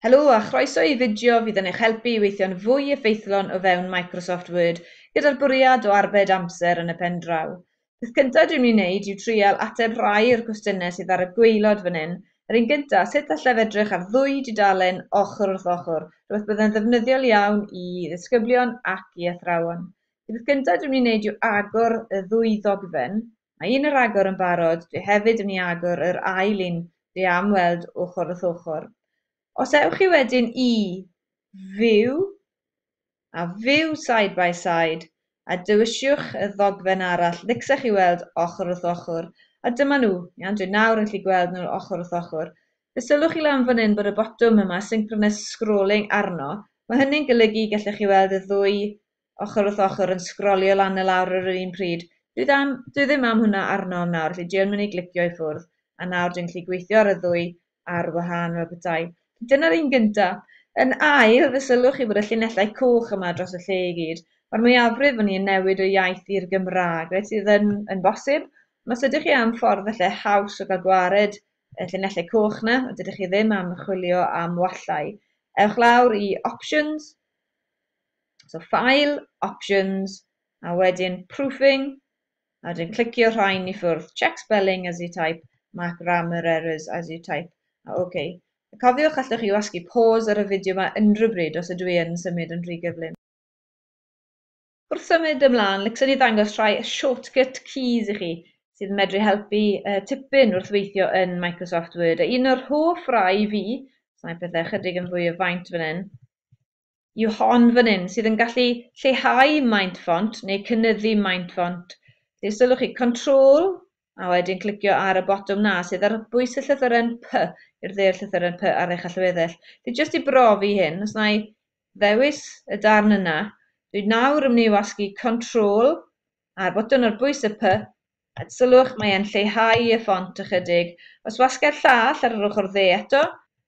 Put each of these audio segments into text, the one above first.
Helo a chroeso i fideo fydd yn eich helpu i weithio'n fwy effeithlon o fewn Microsoft Word gyda'r bwriad o arbed amser yn y pen draw. Peth cyntaf dwi'n mynd i wneud yw trial ateb rhai o'r cwestiynau sydd ar y gwaelod fan hyn. Yr un gyntaf, sut allaf edrych ar ddwy dudalen ochr wrth ochr, rhywbeth byddai'n ddefnyddiol iawn i ddisgyblion ac i athrawon. Y peth cyntaf dwi'n mynd i wneud yw agor y ddwy ddogfen, Mae un ar agor yn barod, dwi hefyd yn mynd i agor yr ail un dwi am weld ochr wrth ochr. Os ewch chi wedyn i View a View Side by Side a dewiswch y ddogfen arall ddicsa chi weld ochr wrth ochr a dyma nhw, iawn dwi nawr yn gallu gweld nhw ochr wrth ochr. Fe sylwch chi lan fan hyn bod y botwm yma Synchronous Scrolling arno, mae hynny'n golygu gallech chi weld y ddwy ochr wrth ochr yn sgrolio lan a lawr ar yr un pryd. Dwi ddim, dwi ddim am hwnna arno am nawr, felly dwi yn mynd i glicio i ffwrdd, a nawr dwi'n gallu gweithio ar y ddwy ar wahân fel petai. Dyna'r un gynta. Yn ail, fe sylwch chi fod y llinellau coch yma dros y lle i gyd. Mae'r mwyafrif o'n i yn newid o iaith i'r Gymraeg, reit, sydd yn, yn bosib. Ond os ydych chi am ffordd felly haws o gael gwared y llinellau coch na, a dydych chi ddim am chwilio am wallau, ewch lawr i Options, So File, Options, a wedyn Proofing, a wedyn clicio rhain i ffwrdd. Check spelling as you type, mark grammar errors as you type. A OK. Cofiwch, allwch chi wasgu pause ar y fideo yma unrhyw bryd os ydw i yn symud yn rhy gyflym. Wrth symud ymlaen, licsen i ddangos rhai shortcut keys i chi sydd yn medru helpu uh, tipyn wrth weithio yn Microsoft Word. A un o'r hoff rai fi, mae pethau chydig yn fwy o faint fan hyn, yw hon fan hyn sydd yn gallu lleihau maint ffont neu cynyddu maint ffont. Felly os ylwch chi, Control, a wedyn clicio ar y botwm na sydd ar bwys y llythyren P i'r dde o'r llythyren P ar eich allweddill. Felly jyst i brofi hyn, os na i ddewis y darn yna, dwi'n nawr yn mynd i wasgu Control Ar botwm ar bwys y Py, a sylwch, mae e'n lleihau y ffont ychydig. Os wasgai'r llall ar yr ochr dde eto,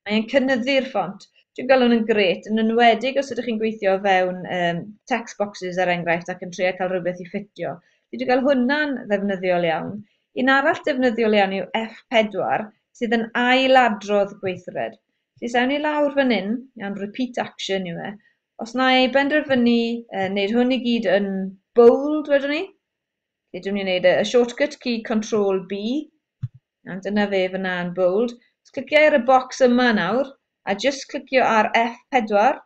mae e'n cynyddu'r ffont. Dwi'n gweld hwn yn grêt, yn enwedig os ydych chi'n gweithio o fewn um, text boxes er enghraifft ac yn trio cael rhywbeth i ffitio. Dwi wedi cael hwnna'n ddefnyddiol iawn. Un arall defnyddiol iawn yw F4 sydd yn ailadrodd gweithred. Felly sawn i lawr fan hyn, iawn, repeat action yw e, Os na i benderfynu uh, wneud hwn i gyd yn bold, wedwn ni. Felly, dwi'n mynd i wneud y shortcut key Control B, a dyna fe fyna yn bold. Os cliciau ar y bocs yma nawr, a jyst clicio ar F4,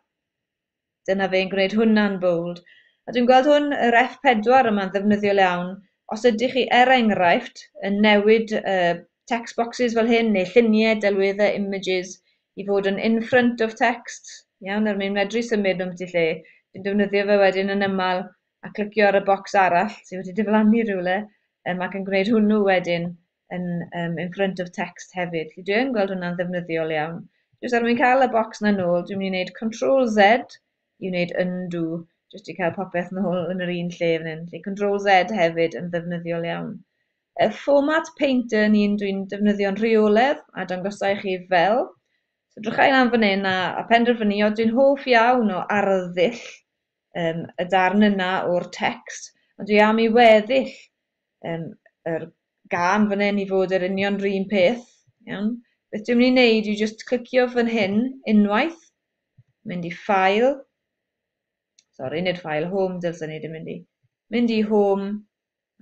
dyna fe'n gwneud hwnna'n bold. A dwi'n gweld hwn, yr F4 yma'n ddefnyddiol iawn, os ydych chi er enghraifft yn newid uh, text boxes fel hyn, neu lluniau, delweddau, images, i fod yn in front of text, iawn, er mwyn medru symud nhw ambiti lle. Dwi'n defnyddio fe wedyn yn ymal a clicio ar y bocs arall sydd wedi diflannu rhywle um, ac yn gwneud hwnnw wedyn yn um, in front of text hefyd. Felly dwi yn gweld hwnna'n ddefnyddiol iawn. Jyst er mwyn cael y bocs na nôl, dwi'n mynd i wneud Ctrl Z i wneud undo, jyst i cael popeth nôl yn yr un lle fan hyn. Felly Ctrl Z hefyd yn ddefnyddiol iawn. Y fformat painter ni'n dwi'n defnyddio'n rheoledd a dangosau i chi fel. So drychau lan fan hyn a, a penderfynu, dwi'n hoff iawn o arddull um, y darn yna o'r text, ond dwi am i weddill um, yr gan fan hyn i fod yr union rhywun peth. Iawn? Beth dwi'n mynd i wneud yw just clicio fan hyn unwaith, mynd i ffail, sorry, nid ffail, home, dylsyn ni ddim mynd i, mynd i home,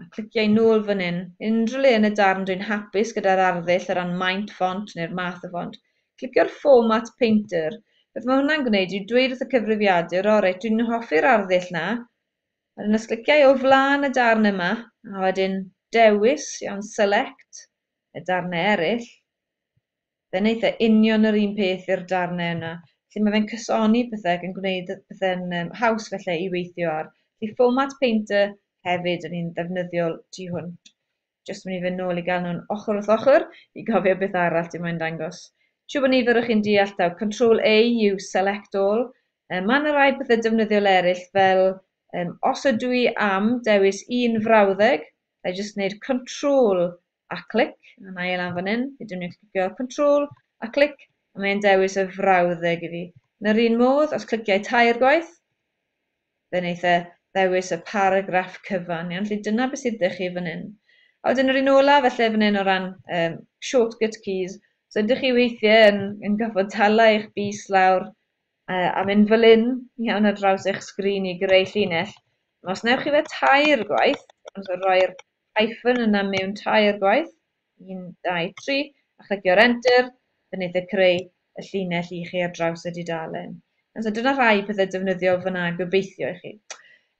a clicio i nôl fan hyn, unrhyw le yn y darn dwi'n hapus gyda'r arddull o ran maint ffont neu'r math o ffont, clicio'r Format Painter. Beth mae hwnna'n gwneud yw dweud wrth y cyfrifiadur, o reit, dwi'n hoffi'r arddull 'na, a wedyn os clicia i o flaen y darn yma, a wedyn dewis, iawn, Select, y darnau eraill, Fe wneith e union yr un peth i'r darnau yna. Felly mae fe'n cysoni pethau ac yn gwneud pethau'n um, haws felly i weithio ar. Felly format painter hefyd yn un ddefnyddiol tu hwnt. Just mynd i fe nôl i gael nhw'n ochr wrth ochr i gofio beth arall ti moyn dangos. Siw bod nifer o chi'n deall taw Control A yw Select All. Um, mae yna rai pethau defnyddiol eraill fel um, os ydw i am dewis un frawddeg, I just wneud Control a clic, a na i e lan fan hyn, fi dwi'n mynd clicio control a clic, a mae'n dewis y frawddeg i fi. Yn yr un modd, os cliciau tair gwaith, fe wneith e ddewis y paragraff cyfan. Iawn, felly dyna beth sydd ddech chi fan hyn. A wedyn yr un ola, felly fan hyn o ran um, shortcut keys, so ydych chi weithiau yn, yn gorfod tala eich bus lawr uh, a mynd fel un iawn ar draws eich sgrin i greu llinell. Os newch chi fe tair gwaith, os rhoi'r hyphen yna mewn tair gwaith, 1, 2, 3, a chlicio'r enter, fe wneith e creu y llinell i chi ar draws y dudalen. And so dyna rhai pethau defnyddiol fyna gobeithio i chi.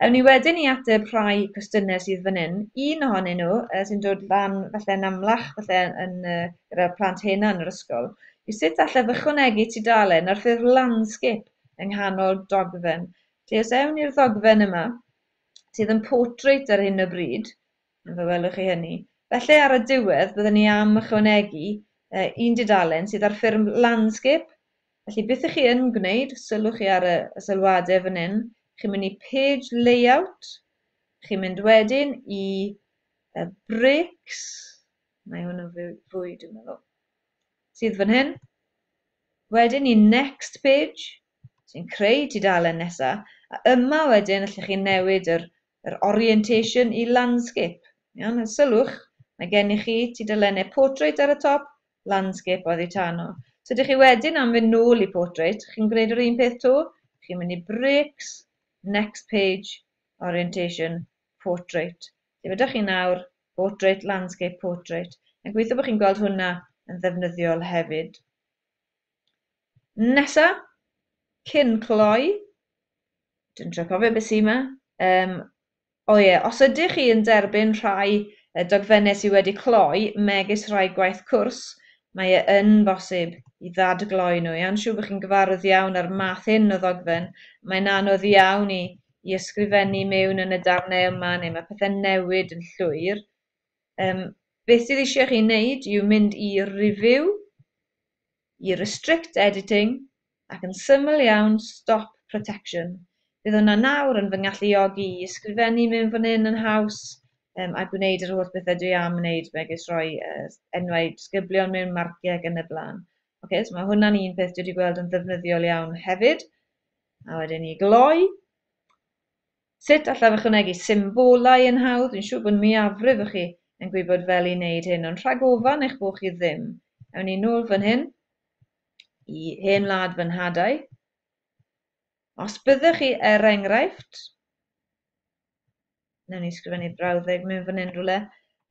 Ewn ni wedyn i ateb rhai cwestiynau sydd fan hyn. Un ohonyn nhw uh, sy'n dod lan falle yn amlach falle yn, uh, gyda'r plant hena yn yr ysgol yw sut allaf ychwanegu tudalen ar ffurf landscape yng nghanol dogfen. Felly os ewn ni'r ddogfen yma, sydd yn portrait ar hyn o bryd, fe welwch chi hynny. Felly ar y diwedd byddwn ni am ychwanegu uh, un dudalen sydd ar ffurf landscape, felly beth ych chi yn gwneud, sylwch chi ar y, y sylwadau fan hyn, chi'n mynd i page layout, chi'n mynd wedyn i uh, bricks, mae hwn yn fwy, fwy dwi'n meddwl, sydd fan hyn, wedyn i next page, sy'n creu tudalen nesa, a yma wedyn allwch chi newid yr yr orientation i landscape. Iawn, a sylwch, mae gennych chi tudalennau portrait ar y top, landscape oddi tan nhw. So ydych chi wedyn am fynd nôl i portrait, chi'n gwneud yr un peth to, chi'n mynd i bricks, next page, orientation, portrait. Lle ydych chi nawr, portrait, landscape, portrait. Yn gweithio bod chi'n gweld hwnna yn ddefnyddiol hefyd. Nesa, cyn cloi, dwi'n trio cofio beth sy 'ma, yym, o ie, os ydych chi yn derbyn rhai yy dogfennau sydd wedi cloi, megis rhai gwaith cwrs, mae e yn bosib i ddadgloi nhw. Iawn, siŵr bod chi'n gyfarwydd iawn â'r math hyn o ddogfen. Mae'n anodd iawn i, i ysgrifennu mewn yn y darnau yma, neu mae pethau'n newid yn llwyr. Um, beth sydd eisiau chi wneud yw mynd i review, i restrict editing ac yn syml iawn stop protection. Bydd hwnna nawr yn fy ngalluogi i ysgrifennu mewn fan hyn yn haws um, a gwneud yr holl bethau dwi am wneud megis rhoi uh, enwau disgyblion mewn marciau ac yn y blaen. Okay, so mae hwnna'n un peth dwi wedi gweld yn ddefnyddiol iawn hefyd. A wedyn ni gloi. Sut allaf ychwanegu symbolau yn hawdd? Dwi'n siŵr bod mwyafrif o chi yn gwybod fel i wneud hyn, ond rhag ofan eich bod chi ddim, ewn ni nôl fan hyn i hen wlad fy nhadau. Os byddwch chi, er enghraifft, newn ni sgrifennu brawddeg mewn fan hyn rhywle,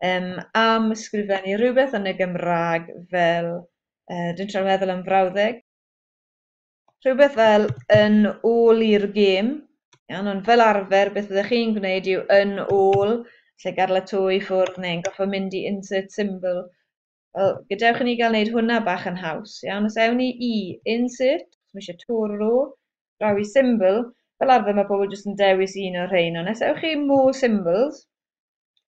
um, am sgrifennu rhywbeth yn y Gymraeg fel, uh, dwi'n trio meddwl am frawddeg, rhywbeth fel yn ôl i'r gêm, iawn, ond fel arfer beth fyddech chi'n gwneud yw yn ôl, lle gadael y to i ffwrdd neu'n goffa mynd i insert symbol. Wel, gadewch i ni gael wneud hwnna bach yn haws, iawn, os ewn ni i insert, os mae eisiau to ar ôl, draw i symbol, fel arfer mae pobl jyst yn dewis un o'r rhain, ond os ewch chi more symbols,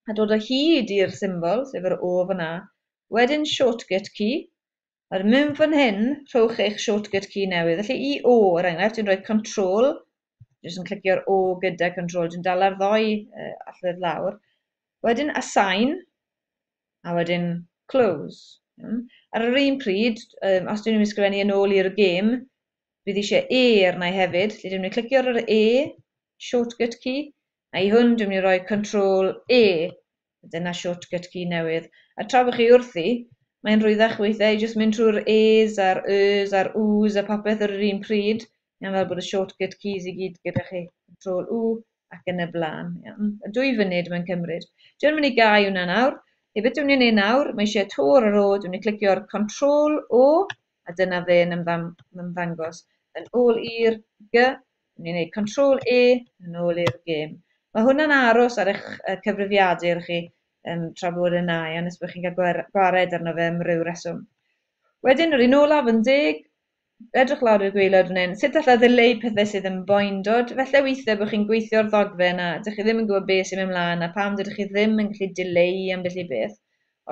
a dod o hyd i'r symbol, sef yr O fan'na. Wedyn shortcut key, a'r myn fan hyn, rhowch eich shortcut key newydd. Felly i O, er enghraifft, dwi'n rhoi control, jyst yn clicio'r O gyda control, dwi'n dala'r ddoi uh, allwedd lawr. Wedyn assign, a wedyn close. Hmm. Ar yr un pryd, um, os dwi'n mynd i sgrifennu yn ôl i'r gêm, bydd eisiau E arna i hefyd. Felly dwi'n mynd i clicio ar yr E, shortcut key, A i hwn, dwi'n mynd i roi Control E, dyna shortcut key newydd, a tra bod chi wrthi, mae'n rwyddach weithiau i jyst mynd trwy'r E's a'r Y's a'r W's a popeth ar yr un pryd, iawn, fel bod y shortcut keys i gyd gyda chi, Control U ac yn y blaen, iawn. A dwy funud mae'n cymryd. Dwi yn mynd i gau hwnna nawr. Hei, beth dwi'n mynd i wneud nawr, mae eisiau to ar yr O, dwi'n mynd i clicio'r Control O, a dyna fe'n ymddangos yn ôl i'r G, ni'n gwneud control E yn ôl i'r gêm. Mae hwnna'n aros ar eich cyfrifiadur chi um, tra bod yna, ia, nes bod chi'n cael gwared arno fe am ryw reswm. Wedyn, yr un olaf yn deg, edrych lawr i'r gweilod fan hyn, sut allai ddileu pethau sydd yn boendod? Felly weithiau bod chi'n gweithio o'r ddogfen a ydych chi ddim yn gwybod beth sy'n mynd mlaen a pam dydych chi ddim yn gallu dileu ambell i beth.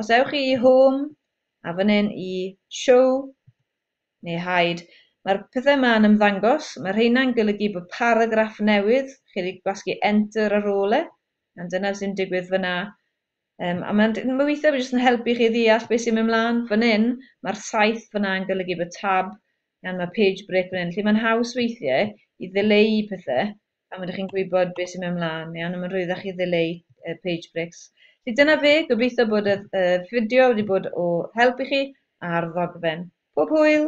Os ewch chi i Home, A fan hyn i Show, neu Hide. Mae'r pethau yma yn ymddangos. Mae rheina'n golygu bod paragraff newydd, chi wedi gwasgu Enter ar ôl e, a dyna sy'n digwydd fyna. Um, a mae'n ma weithiau jyst yn helpu chi ddeall beth sy'n mynd mlaen. Fan hyn, mae'r saith fyna yn golygu bod tab, gan mae page break fan hyn. Felly mae'n haws weithiau i ddileu pethau a ma' 'da chi'n gwybod beth sy'n mynd mlaen, iawn, a mae'n rhwyddach chi ddileu uh, page breaks. Felly dyna fe, gobeithio bod y uh, fideo wedi bod o help i chi ar ddogfen. Pob hwyl!